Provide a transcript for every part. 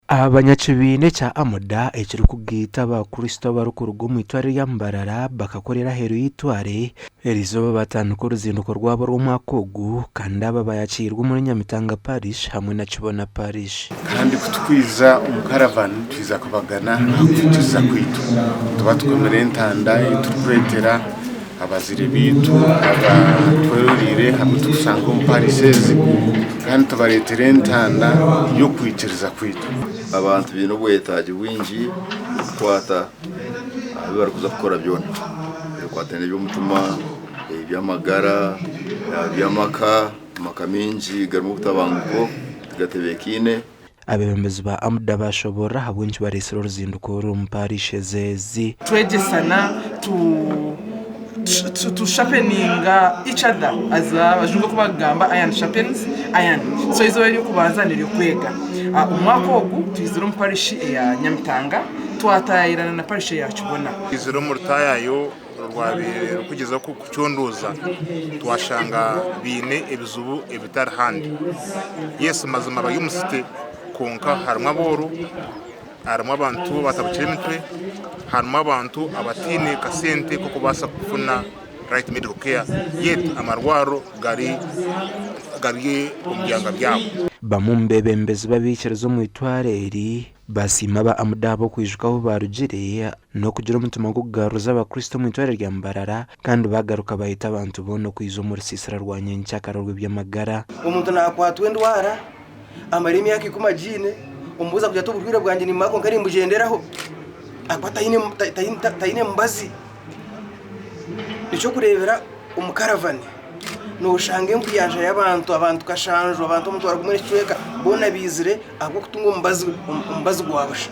Abanyakibiina ekya Amuda ekirikugaita Abakristo abarikuruga omu itware rya Mbarara bakakorera aheeru y'eitware eri izooba baatandika oruzinduko rwabo rw'omwaka ogu kandi aba baayakiirwe omuri Nyamitanga Parish hamwe na Kibona Parish. Kandi ku twiza omu karavani twiza kubagana aha kwituza kwaitu, tuba tukomire entanda ei turikwetera. Abazire baitu aba tweroreire hamwe tukusanga omu parish ezi kandi tubaretera entanda y'okwikiriza kwaitu. Abantu baine obwetagi bwingi kukwata aha bi bari kuza kukora byona ebikwataine n'eby'omutima, eby'amagara, eby'amaka. Amaka mingi garimu obutabanguko, tigatebekaine. Abeebembezi ba AMDA baashoboorora ahabw'enki bareetsire oruzinduko oru omu paarish eze ezi. Twegyesana tu tu sharpeninga each other as abajungu oku bakugamba iron sharpens iron so eizooba ery'okubanza n'ery'okwega omwaka ogu twizire omu parish eya Nyamitanga twataayaayirana na parish eya Kibona. Twizire omu rutaayayo Rwabaire rukugyezaho kucondooza twashanga baine ebizibu ebitari handi. Yes mazima bari omu city kwonka harimu abooro, harimu abantu abatabukire emitwe, harimu abantu abataine kasente k'okubaasa kufuna right medical care yet amarwariro gari gari omu byanga byabo. Bamwe omu beebembezi b'abaikiriza omu itwaro eri Baasiima aba Amuda ahabw'okwijuka ahu baarugire n'okugira omutima gw'okugaruriza Abakristo omu itwariro rya Mbarara kandi baagaruka baayeta abantu boona okwija omu rusiisira rwa nyenkyakara orw'eby'amagara. Omuntu naakwatwa endwara amare emyaka ikumi agiine, omubuuza kugira ati, Oburwaire bwangye nimbumara kwonka nimbugyenderaho? Ahakuba taine mubazi. Eky'okureebera omu karavani nooshanga enkuyanja y'abantu, abantu kashanju, abantu omutwaro gumwe n'ekicweka boona baizire ahabw'okutunga omubazi gwa busha.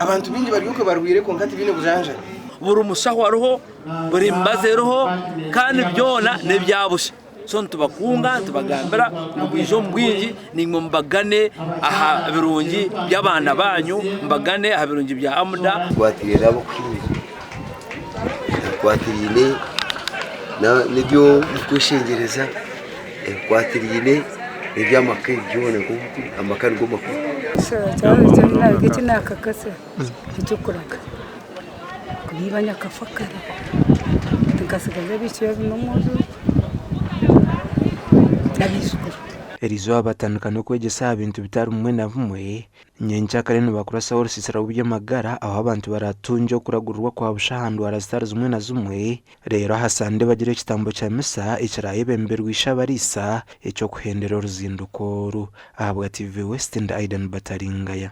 Abantu baingi bari okwe barwaire kwonka tibaine bujanjabi. Buri mushaho ariho, buri mibazi eriho kandi byona n'ebya busha. So nitubakunga nitubagambira ngu bwije omu bwingi naimwe mubagane aha birungi by'abaana baanyu, mubagane aha birungi bya Amuda. Tukwatiraine ab'okuhinga, ebikwatiraine n'eby'okweshengyereza, ebikwatiraine n'eby'amaka, ebi byona, amaka nigo makuru. eky'okuraga kubiiba nyakafa kare nkatsigaza abaishiki babiri n'omwojo n'abaijukuru. Erizooba batandika n'okwegyesa aha bintu bitari bimwe na bimwe. Nyencakare nibakurasaho orusiisira rw'eby'amagara ahu abantu baratungye okuragurirwa kwa busha aha ndwara zitari zimwe na zimwe. Reero aha Sande bagira ekitambo kya misa ekirayebemberwa Ishabariisa eky'okuhendera oruzinduko oru. Ahabwa TV West ndi Aidan Bataringaya.